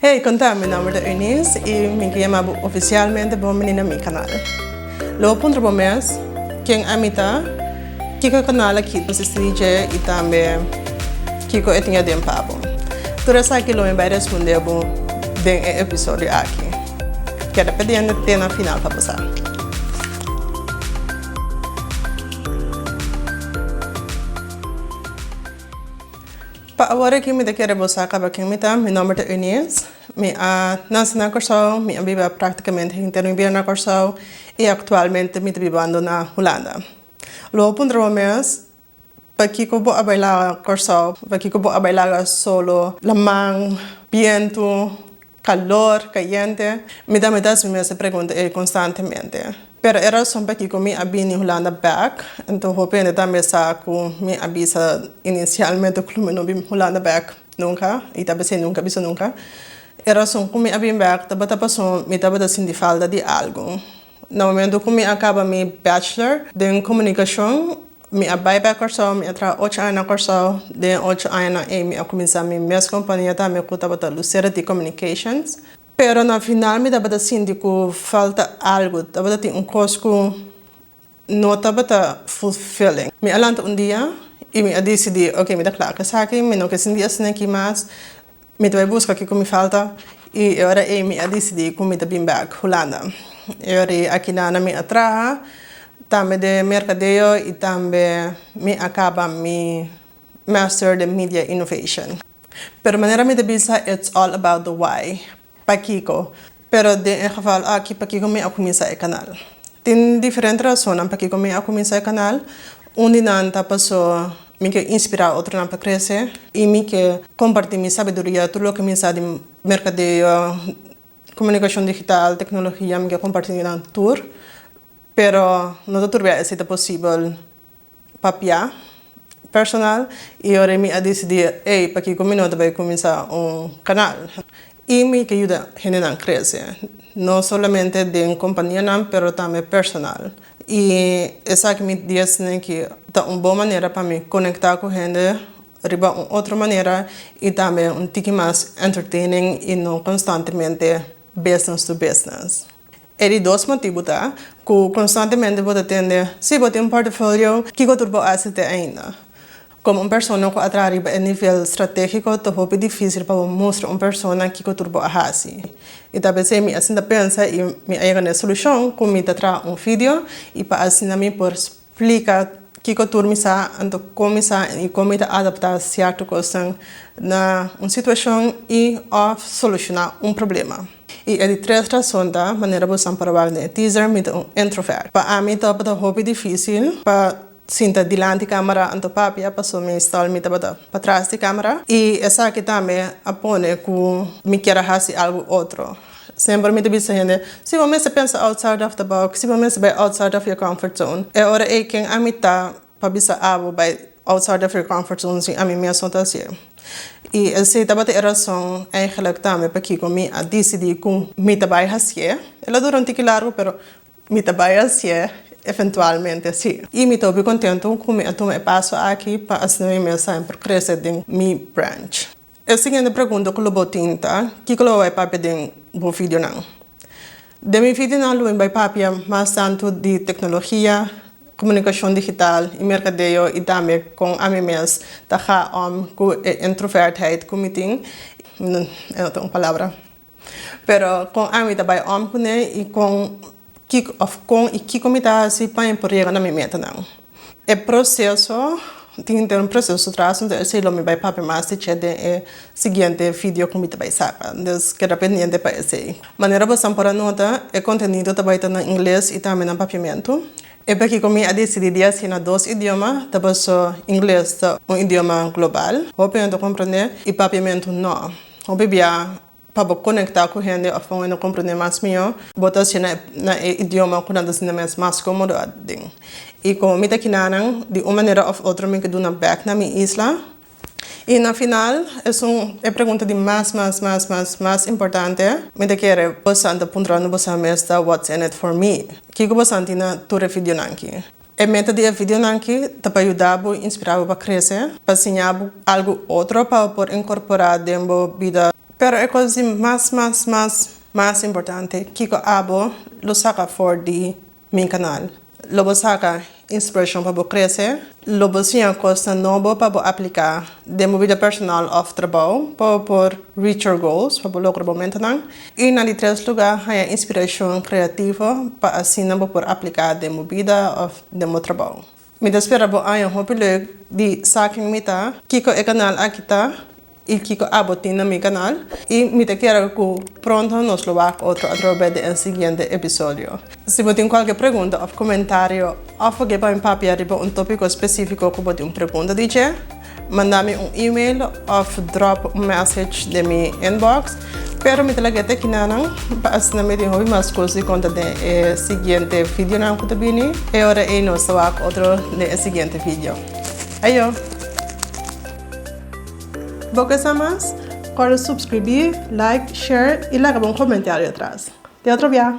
Hey, con ta? Mi nomber ta Eunice y mi quiere yama bo oficialmente bo bini na mi canal. Lo bo puntra bo mes, Ken ami ta? Kico e canal aki ta sisti di dje y tambe kico e tin aden pa bo? Tur esaki lo mi bay responde bo den e episodio aki. Keda pendiente te na final pa bo sa. Pa awor aki mi ta kere bo sa kaba ken mi ta, mi nomber ta Eunice, mi a nase na Kòrsou, mi a biba práktikamente henter mi bida na Kòrsou i aktualmente mi ta bibando na Hulanda. Lo bo puntra bo mes pakiko bo a bai laga Kòrsou, pakiko bo a bai laga solo laman, bientu. Calor, cayente. Mi ta mi ta haci mi mes e pregunta ey constantemente. Pero e razon pakico mi a bini Hulanda bek, enton hopi hende tambe sa cu mi a bisa inicialmente cu lo mi no bin Hulanda bek nunca, y ta besey nunca bisa nunca. E razon cu mi a bin bek tabata pasobra mi tabata sinti falta di algo. Na momento cu mi a caba mi bachelor den comunicacion, mi a bay pa Cor-sao, mi a traha ocho aña na Cor-sao. Den e ocho añanan ey mi a cuminsa mi mes compania tambe cu tabata Lucera T Communications. Pero na final mi tabata sinti cu falta algo, tabata tin un cos cu no tabata fulfilling. Mi a lanta un dia y mi a dicidi, ok, mi ta clara cu esaki, mi no ke sinti asina aki mas. Mi ta bai buska kiko mi falta y e ora ey mi a dicidi cu mi ta bin back Hulanda. E ora ey akina na mi a traha tambe den mercadeo y tambe mi a caba mi Master den Media Innovation. Pero manera mi ta bisa it's all about the why, pa kiko. Pero den e geval aki pakico mi a cuminsa e canal? Tin diferente razonnan pakico mi a cuminsa e canal. Un di nan ta paso mi kier inspira otronan pa crece y mi kier comparti mi sabiduria, tur loke mi sa di mercadeo, comunicacion digital, tecnologia, mi kier comparti cu nan tur. Pero no ta tur bia esey ta posibel Papia, personal, i ora mi a disidí ei pakiko mi no ta bai kuminsá un kanal, i mi ke yuda hendenan krese, no solamente den kompanianan pero tambe personal, i esaki mi dies ne ki ta un bon manera pa mi konektá ku hende riba un otro manera i tambe un tiki mas entertaining i no konstantemente business to business. E di dos motibu ta ku konstantemente bo ta tende si bo tin un portafolio kiko tur bo hasi te ainda. Komo un persona ku a traha riba e nivel stratégiko ta hopi difísil pa bo mustra un persona kiko tur bo a hasi. I ta p'esei mi a sinta pensa i mi a yega na e solushon ku mi ta traha un video i pa asina mi por Plika kiko tur mi sa, anto kon mi sa i kon mi ta adaptá sierto kosnan na un situacion i of solucioná un problema. I e di tres rason ta, manera bo san probal den e teaser, mi ta un introvert. Pa ami tabata hopi dificil pa sinta dilanti camera anto papia paso meestal mi tabata pa tras di camera i esaki tambe a pone cu mi kier a haci algo otro. Semper mi ta bisa hende, Si bo mester pensa outside of the box, si bo mester bai outside of your comfort zone. E ora ei ken ami ta pa bisa abo bai outside of your comfort zone si ami mes no ta hasi'e? I esei tabata e rason eigenlijk tambe pakiko mi a disidi ku mi ta bai hasi'e. E lo dura un tiki largu pero mi ta bai hasi'e eventualmente si. I mi ta hopi kontentu ku mi a tuma e paso aki pa asina mi mes a semper krese den mi branch. E siguiente pregunta ku lo bo tin ta, Kiko lo bo bai papia den bo videonan? Den mi videonan lo mi bai papia mas tantu di teknologia, komunikashon digital i merkadeo i tambe kon ami mes ta haa om ku e introvertheid ku mi tin. No ta un palabra. Pero kon ami ta bai om kuné i kon kiko òf kon i kiko mi ta hasi pa mi por yega na mi metanan? E proseso, tin te un proseso tras un esei lo mi bai papia mas di chet den e siguiente video ku mi ta bai saka. Entonces keda pendiente pa esei. Manera bosan por a nota e kontenido ta bai ta na ingles i tambe na papiamentu. E pakiko mi a disidí di hasi na dos idioma ta paso ingles ta un idioma global, hopi hende ta komprondé i papiamentu nò. Hopi bia, pa bo konektá ku hende òf pa hopi hende komprendé mas mihó, bo ta hacié na e idioma ku nan ta sinti mes mas kómodo aden. I komo mi ta kina nan, di un manera òf otro mi ke duna bèk na mi isla. I na final, esun e pregunta di mas mas mas mas mas importante, mi ta kere bosan ta puntrando bosan mes ta what's in it for me? Kiko bosan tin na tur e vidionan ki? E meta di e videonan aki ta pa yuda bo i inspirá bo pa krese, pa siña bo algu otro pa bo por inkorporá den bo bida. Pero e kos di mas mas mas mas importante, kiko abo lo saka afor di mi kanal? Lo bo saka inspirashon pa bo krese? Lo bo siña kosnan nobo pa bo apliká den bo bida personal òf trabou pa bo por reach your goals, pa bo logra bo metanan? I na di tres lugá, haña inspirashon kreativo pa asina bo por apliká den bo bida òf den bo trabou. Mi ta spera bo haña hopi lek di Saken Mi Ta, Kiko e kanal aki ta i kiko abo tin na mi kanal. I mi ta kere ku pronto nos lo wak otro atrobes di e siguiente episodio. Si bo tin kualke pregunta òf komentario, òf bo ke pa mi papia riba un tópiko spesífiko ku bo tin un pregunta di dje, Manda mi un email of drop un message den mi inbox. Pero mi ta laga e tekina nan pa asina mi tin hopi mas cos di conta den e siguiente videonan cu ta bini. E ora ey nos ta wak otro den e siguiente video. Ayo! Bo ke sa mas? Corda subscribi, like, share y laga bo un comentario atras. Te otro bia!